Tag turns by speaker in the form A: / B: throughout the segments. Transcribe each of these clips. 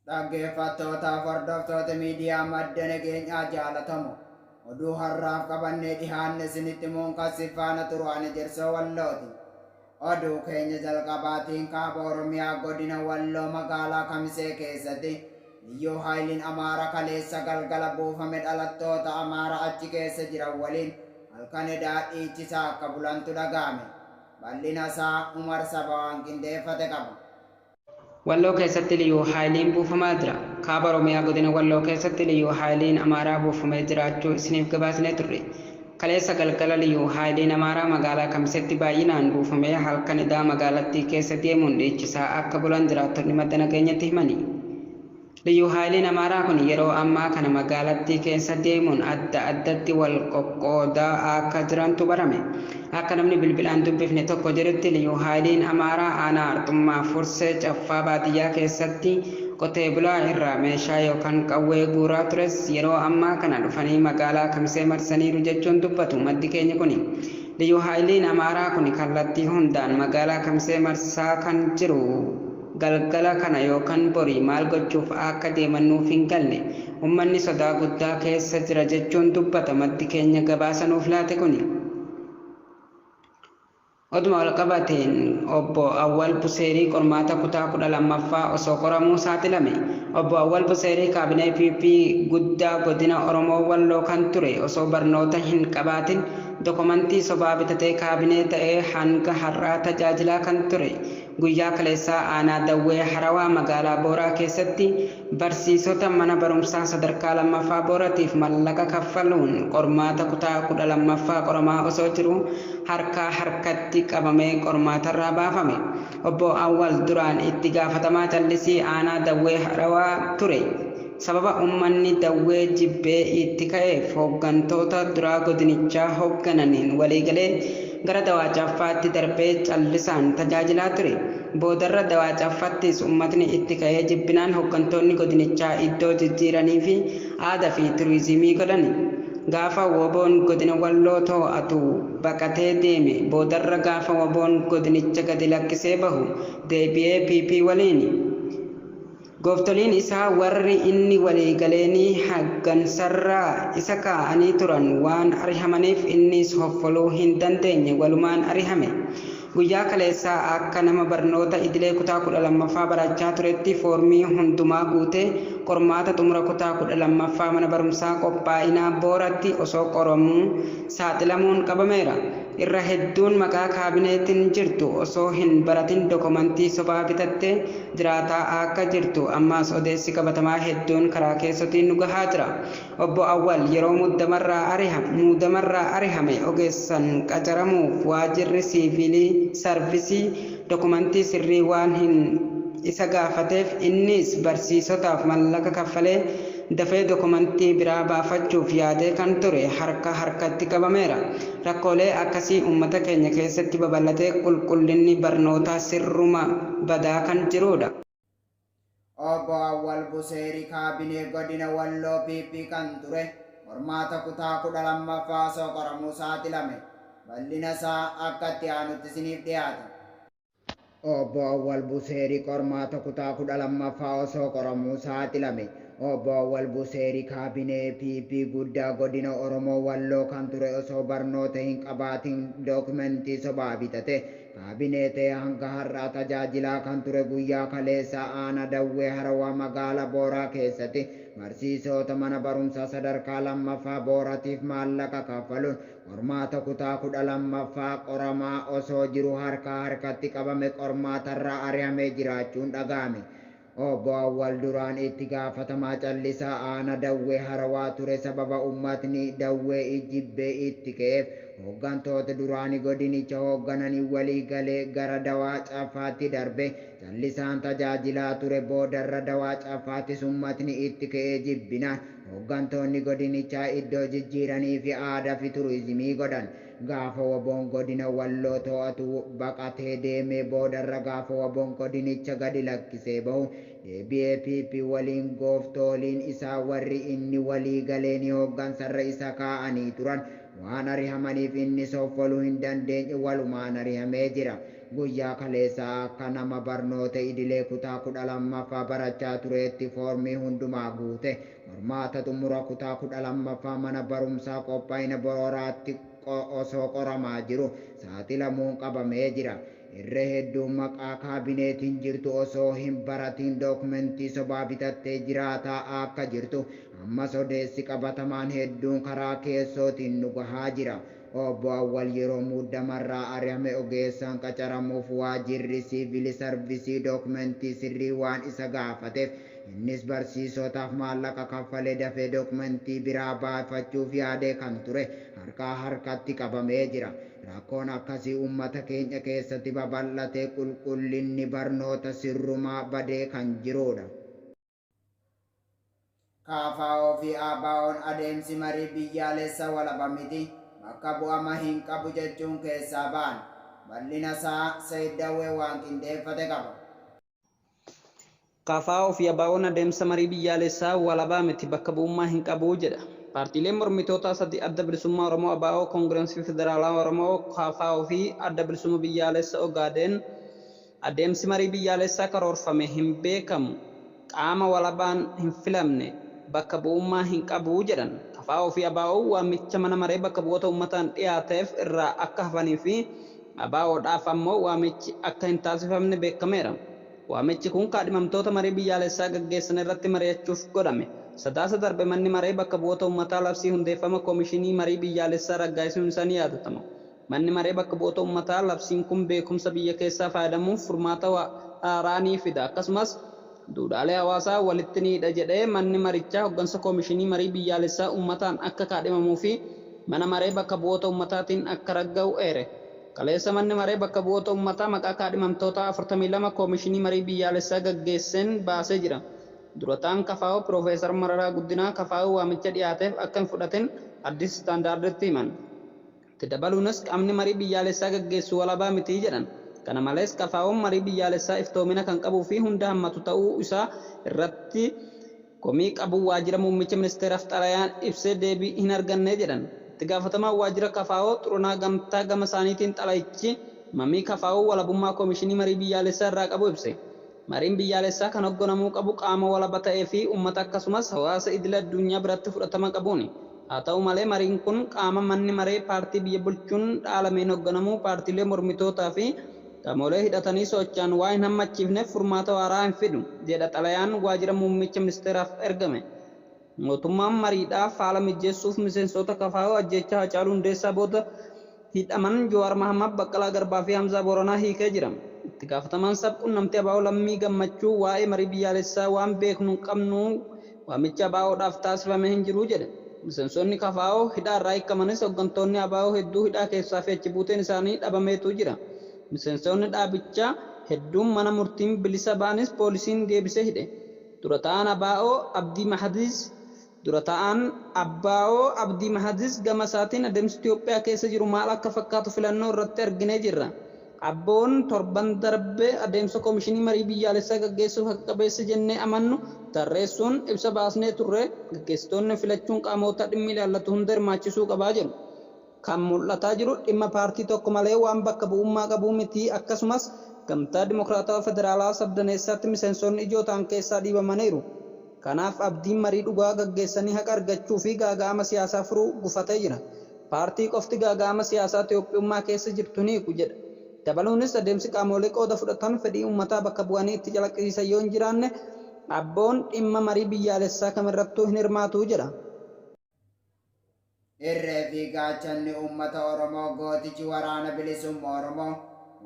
A: Dhaggeeffattootaaf hordoftoota miidiyaa madda nageenyaa jaalatamu. Oduu har'aaf qabannee dhihaanne isinitti muunqassiif faana turu'aan ejersoo wallooti. Oduu keenya jalqabaatiin kaaba Oromiyaa godina Walloo magaalaa Kamisee keessatti liyyuu haayiliin Amaara kaleessa galgala buufame dhalattoota Amaara achi keessa jiran waliin halkan edaa dhiichisaa akka bulantu dhaga'ame. Bal'inasaa Umar Sabawaan qindeeffate qaba. Walloo
B: keessatti Liyuu Haayiliin buufamaa jira. Kaaba Oromiyaa godina Walloo keessatti Liyuu Haayiliin Amaaraa buufamee jiraachuu isiniif gabaasinee turre. Kaleessa galgala Liyuu Haayiliin Amaaraa magaalaa Kamiseetti baay'inaan buufamee halkan edaa magaalattii keessa deemuun dhiichisaa akka bulan jiraattonni madda nageenyatti himani. Liyyu Haayiliin Amaaraa kun yeroo ammaa kana magaalattii keessa deemuun adda addatti wal qoqqoodaa akka jirantu barame. Akka namni bilbilaan dubbifne tokko jedhutti Liyyu Haayiliin Amaaraa aanaa Arxummaa Fursee Caffaa baadiyyaa keessatti qotee bulaa irraa meeshaa yookan qawwee guuraa tures yeroo ammaa kana dhufanii magaalaa Kamisee marsaniiru jechuun dubbatu maddi keenyi kuni. Liyyu Haayiliin Amaaraa kuni kallattii hundaan magaalaa Kamisee marsaa kan jiru. Galgala kana yookan borii maal gochuuf aakka deeman nuuf hin galle. Ummanni sodaa guddaa keessa jira jechuun dubbata maddi keenya gabaasa nuuf laate kuni. Oduma walqabateen Obbo Awwal Buseerii qormaata kutaa 12ffaa osoo qoramuu saaxilame. Obbo Awwal Buseerii kaabinee PP guddaa godina Oromoo Walloo kan ture osoo barnoota hin qabaatin dokomantii sobaa bitatee kaabinee ta'ee hanga har'aa tajaajilaa kan ture. Guyyaa kaleessaa aanaa Dawwee Harawaa magaalaa Booraa keessatti barsiisota mana barumsaa sadarkaa 2ffaa Booratiif mallaqa kaffaluun qormaata kutaa 12ffaa qoramaa osoo jiruu harkaa harkatti qabamee qormaatarraa baafame. Obbo Awwal duraan itti gaafatamaa callisii aanaa Dawwee Harawaa ture. Sababa ummanni Dawwee jibbee itti ka'eef hooggantoota duraa godinichaa hooggananiin waliigalee gara Dawaa Caffaatti darbee callisaan tajaajilaa ture. Boodarra Dawaa Caffattis ummatni itti ka'ee jibbinaan hooggantoonni godinichaa iddoo jijjiiraniifi aada fi turiizimii godhan. Gaafa wbo'n godina Walloo too'atu baqatee deeme. Boodarra gaafa wbo'n godinicha gadi lakkisee bahu deebi'ee PP waliin. Gooftoliin isaa warri inni walii galeenii haggansarraa isa kaa'anii turan waan arihamaniif inniis hoffoluu hin dandeenye walumaan arihame. Guyyaa kaleessaa akka nama barnoota idilee kutaa 12ffaa barachaa turetti foormii hundumaa guutee qormaata xumura kutaa 12ffaa mana barumsaa qophaa'inaa Booratti osoo qoromuu saaxilamuun qabameera. Irra hedduun maqaa kaabineetin jirtu osoo hin baratin dokomantii sobaa bitatte jiraataa aakka jirtu ammaas odeessi qabatamaa hedduun karaa keessotiin nu gahaa jira. Obbo Awwal yeroo muddamarraa ariha muudamarraa arihame ogeessan qacaramuuf waajirri siiviilii, sarvisii, dokomantii sirrii waan hin isa gaafateef inniis barsiisotaaf mallaqa kaffalee, Dafee dokumantii biraa baafachuuf yaadee kan ture harka harkatti qabameera. Rakkoolee akkasii uummata keenya keessatti babal'atee qulqullinni barnootaa sirruma badaa kan jiruudha.
A: Obbo Awwal Buseeri Kaabinee Godina Walloo PP kan ture qormaata kutaa 12ffaa osoo qoramuu saaxilame. Bal'ina isaa akka itti aanutti isiniif dhiyaata. Obbo Awwal Buseeri qormaata kutaa 12ffaa osoo qoramuu saaxilame. Obbo Awwal Buseeri kaabinee PP guddaa godina Oromoo Walloo kan ture osoo barnoota hin qabaatin dookimentii sobaa bitate kaabinee ta'ee hanga har'aa tajaajilaa kan ture guyyaa kaleessaa aanaa Dawwee Harawaa magaala Booraa keessati barsiisoota mana barumsaa sadarkaa 2ffaa Booratiif maallaqa kaffaluun Qormaata kutaa 12ffaa qoramaa osoo jiru harkaa harkatti qabame qormaatarraa ari'amee jiraachuun dhaga'ame. Obbo Awwal duraan itti gaafatamaa callisaa aana Dawwee Harawaa ture sababa ummatni Dawwee I jibbee itti ka'eef hoggantoota duraani godinicha hoggananiin walii galee gara Dawaa Caffaatti darbe. Callisaan tajaajilaa ture boodarra Dawaa Caffaatis ummatni itti ka'ee jibbinaan Hoggantoonni godinichaa iddoo jijjiiraniifi aadaafi turizimii godhan gaafa wbo'n godina Walloo to'atu baqatee deemee boodarra gaafa wbo'n godinicha gadi lakkisee bahu deebi'ee PP waliin gooftooliin isaa warri inni walii galeeni hoggansarra isa kaa'anii turan waan arihamaniif inni soffolu hin dandeenye walumaan arihamee jira. Guyyaa kaleessaa akka nama barnoota idilee kutaa 12ffaa barachaa tureetti foormii hundumaa guute qormaata xumura kutaa 12ffaa mana barumsaa Qophaa'ina Borooraatti osoo qoramaa jiru saaxilamuun qabamee jira. Irra hedduu maqaa kaabineetiin jirtu osoo hin baratiin dookumentii sobaa bitattee jiraataa akka jirtu ammas odeessi qabatamaan hedduun karaa keessootiin nu gahaa jira. Obbo Awwal yeroo muuddamarraa ari'ame ogeessaan qacaramuuf waajirri siivili sarvisii dookmentii sirrii waan isa gaafateef innis barsiisootaaf maallaqa kaffalee dafee dookmentii biraa baafachuuf yaadee kan ture harkaa harkatti qabamee jira. Rakkoon akkasii uummata keenya keessatti babal'atee qulqullinni barnoota sirrumaa badee kan jiruudha. KFO fi ABOn adeemsi marii biyyaalessa walaba miti, bakka bu'ama hin qabu jechuun keessaa ba'an. Bal'ina isaa Said Dawwee waan qindeeffate qaba.
B: KFO fi ABOn adeemsa marii biyyaalessaa walaba miti, bakka bu'ummaa hin qabu jedha. Paartiileen mormitootaa sadi Adda Bilisummaa Oromoo, abo, Kongirensii Federaalawaa Oromoo, KFO, fi Adda Bilisumma Biyyaalessa Ogaadeen, Adeemsi marii biyyaalessaa karoorfame hin beekamu, qaama walabaan hin filamne, bakka bu'ummaa hin qabu jedhan. KFO fi ABOn waamicha Mana Maree Bakka Bu'oota Ummataan dhiyaateef irraa akka hafanii fi ABOdhaaf ammoo waamichi akka hin taasifamne beekameera. Waamichi kun kaadhimamtoota marii biyyaalessaa gaggeessan irratti mari'achuuf godhame. Sadaasa darbe Manni Maree Bakka Bu'oota Ummataa labsii hundeeffama Komishinii Marii Biyyaalessaa raggaasisuun isaa ni yaadatama. Manni Maree Bakka Bu'oota Ummataa labsiin kun beekumsa biyya keessaa faayadamuun furmaata waaraa ni fida akkasumas duudhaalee hawaasaa walitti ni hidha jedhee manni marichaa hoggansa Koomishinii Marii Biyyaalessaa Ummataan akka kaadhimamuu fi Mana Maree Bakka Bu'oota Ummataatiin akka ragga'u eere. Kaleessa Manni Maree Bakka Bu'oota Ummataa maqaa kaadhimamtootaa 42 Koomishinii Marii Biyyaalessaa gaggeesseen baasee jira. Dura ta'an kfo Piroofeesar Mararaa Guddinaa kfo waamicha dhiyaateef akka hin fudhatin Addis Standard'tti himan. Itti dabaluunis qaamni marii biyyaalessaa gaggeessu walabaa miti jedhan. Kana malees KFOn marii biyyaalessaa iftoomina kan qabuu fi hunda hammatu ta'uu isaa irratti komii qabu waajjira muummicha ministeeraaf xalayaan ibsee deebii hin arganne jedhan. Itti gaafatamaan waajjira kfo Xurunaa Gamtaa gama isaaniitiin xalayichi mamii KFOn walabummaa koomishinii marii biyyaalessaa irraa qabu ibse. Mariin biyyaalessaa kan hogganamuu qabu qaama walaba ta'ee fi ummata akkasumas hawaasa idil adduunyaa biratti fudhatama qabuuni. Haa ta'u malee mariin kun qaama manni maree paartii biyya bulchuun dhaalameen hogganamuu paartiilee mormitootaa fi qamoolee hidhatanii soochaan waa hin hammachiifneef furmaata waaraa hin fidu jedha xalayaan waajira muummicha ministeeraaf ergame. Mootummaan mariidhaaf haala mijeessuuf miseensoota kfo ajjeechaa Hacaaluu Hundeessaa booda hidhaman Jawaar Mahaammad, Baqqalaa Garbaa fi Hamzaa Booranaa hiikee jira. Itti gaafatamaan sab-qunnamtii abo Lammii Gammachuu waa'ee marii biyyaalessaa waan beeknu hin qabnu, waamichi ABOdhaaf taasifame hin jiru jedhe. Miseensoonni kfo hidhaa irraa hiikkamanis hoggantoonni abo hedduu hidhaa keessaa fi achi buuteen isaanii dhabameetu jira. Miseensoonni dhaabichaa hedduun mana murtiin bilisa ba'anis poolisiin deebisee hidhe. Dura ta'aan abo Abdii Mahadiis Dura ta'aan abo Abdii Mahadiis gama isaatiin adeemsi Itiyoophiyaa keessa jiru maal akka fakkaatu filannoo irratti arginee jirra. ABOn torban darbe adeemsa Komishinii Marii Biyyaalessaa gaggeessuuf haqa qabeessa jennee amannu tarreessuun ibsa baasnee turre, gaggeessitoonni filachuun qaamoota dhimmi ilaallatu hunda hirmaachisuu qaba jedhu. Kan mul'ataa jiru dhimma paartii tokko malee waan bakka bu'ummaa qabuu mitii akkasumas Gamtaa Dimokiraatawa Federaalaa sabdaneessaatti miseensoonni ijoo ta'an keessaa dhiibamaniiru. Kanaaf abdiin marii dhugaa gaggeessanii haqa argachuu fi gaaga'ama siyaasaa furuu gufatee jira. Paartii qofti gaaga'ama siyaasaa Toophiyummaa keessa jirtu hin hiiku jedha. Dabaluunis adeemsi qaamoolee qooda fudhatan fedhii uummataa bakka bu'anii itti calaqqisiisan yoo hin jiraanne ABOn dhimma marii biyyaalessaa kamirrattuu hin hirmaatu jedha.
A: Irree fi gaachanni uummata Oromoo gootichi Waraana Bilisumma Oromoo,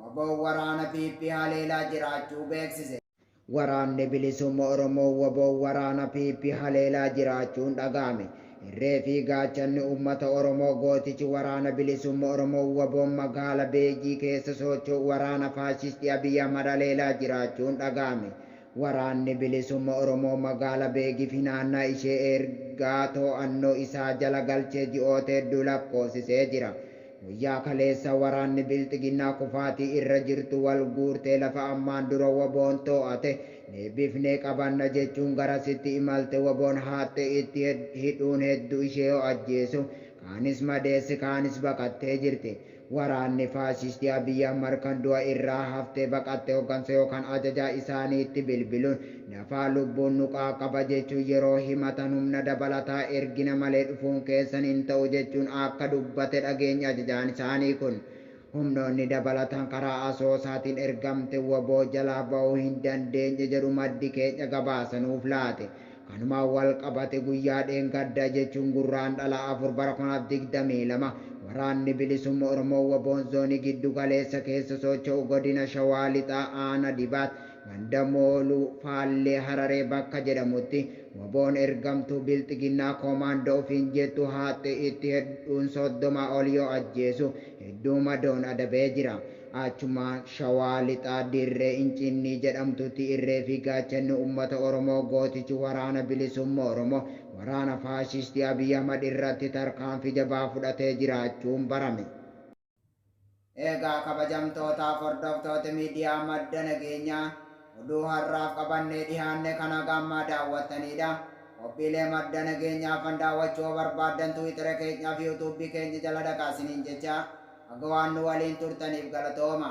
A: wbo, waraana PP haleelaa jiraachuu beeksise. Waraanni Bilisumma Oromoo, wbo, waraana PP haleelaa jiraachuun dhaga'ame. Irree fi gaachanni uummata Oromoo gootichi Waraana Bilisumma Oromoo, wbo, magaala Beejii keessa soocho'u waraana faashistii Abiy Ahmad haleelaa jiraachuun dhaga'ame. Waraanni Bilisumma Oromoo Magaala Beegii fi naannaa ishee eergaa too'annoo isaa jala galchee ji'oota hedduu lakkoofsisee jira. Guyyaa kaleessaa waraanni Bilxiginnaa kufaatii irra jirtu wal guurtee lafa ammaan dura wboon too'ate deebifnee qabanna jechuun garasitti imalte wboon haattee itti hidhuun heddu ishee yoo ajjeesu kaanis madeesse kaanis baqattee jirti. Waraanni faashistii Abiy Ahmad kan du'a irraa haftee baqatte hoggansa yookaan ajajaa isaaniitti bilbiluun nafaa lubbuun nu qaaqaba jechuun yeroo himatan humna dabalataa ergina malee dhufuun keessan hin ta'u jechuun akka dubbate dhageenye ajajaan isaanii kun humnoonni dabalatan karaa Asoosaatiin ergamte wbo jalaa ba'uu hin dandeenye jedhu maddi keenya gabaasa nuuf laate Kanumaan walqabate guyyaa dheengadda jechuun Gurraandhala 4 bara 2022 Waraanni Bilisumma Oromoo wbo Zoonii Giddu Galeessa keessa socho'u Godina Shawaa Lixaa Aana Dibaat ganda Mooluu Faallee Hararee bakka jedhamutti wboon ergamtuu Bilxiginnaa Koomaandoo ofiin jettu haaxxe itti hedduun 30 ol yoo ajjeesu hedduu madoon adabee jira. Achuma Shawaa Lixaa Dirree Inciinnii jedhamtutti irree fi gaachanni ummata Oromoo gootichi Waraana Bilisumma Oromoo waraana faashistii Abiy Ahmad irratti tarkaanfii jabaa fudhatee jiraachuun barame. Eegaa kabajamtootaaf hordoftooti miidiyaa Madda Nageenyaa. Oduu har'aaf qabannee dhihaanne kan haga ammaa daawwattaniidha. Qophiilee madda nageenyaa hafan daawwachuu yoo barbaaddan Twiitera keenyaa fi YouTube keenya jala dhaqaa isiniin jecha haga waan nu waliin turtaniif galatooma.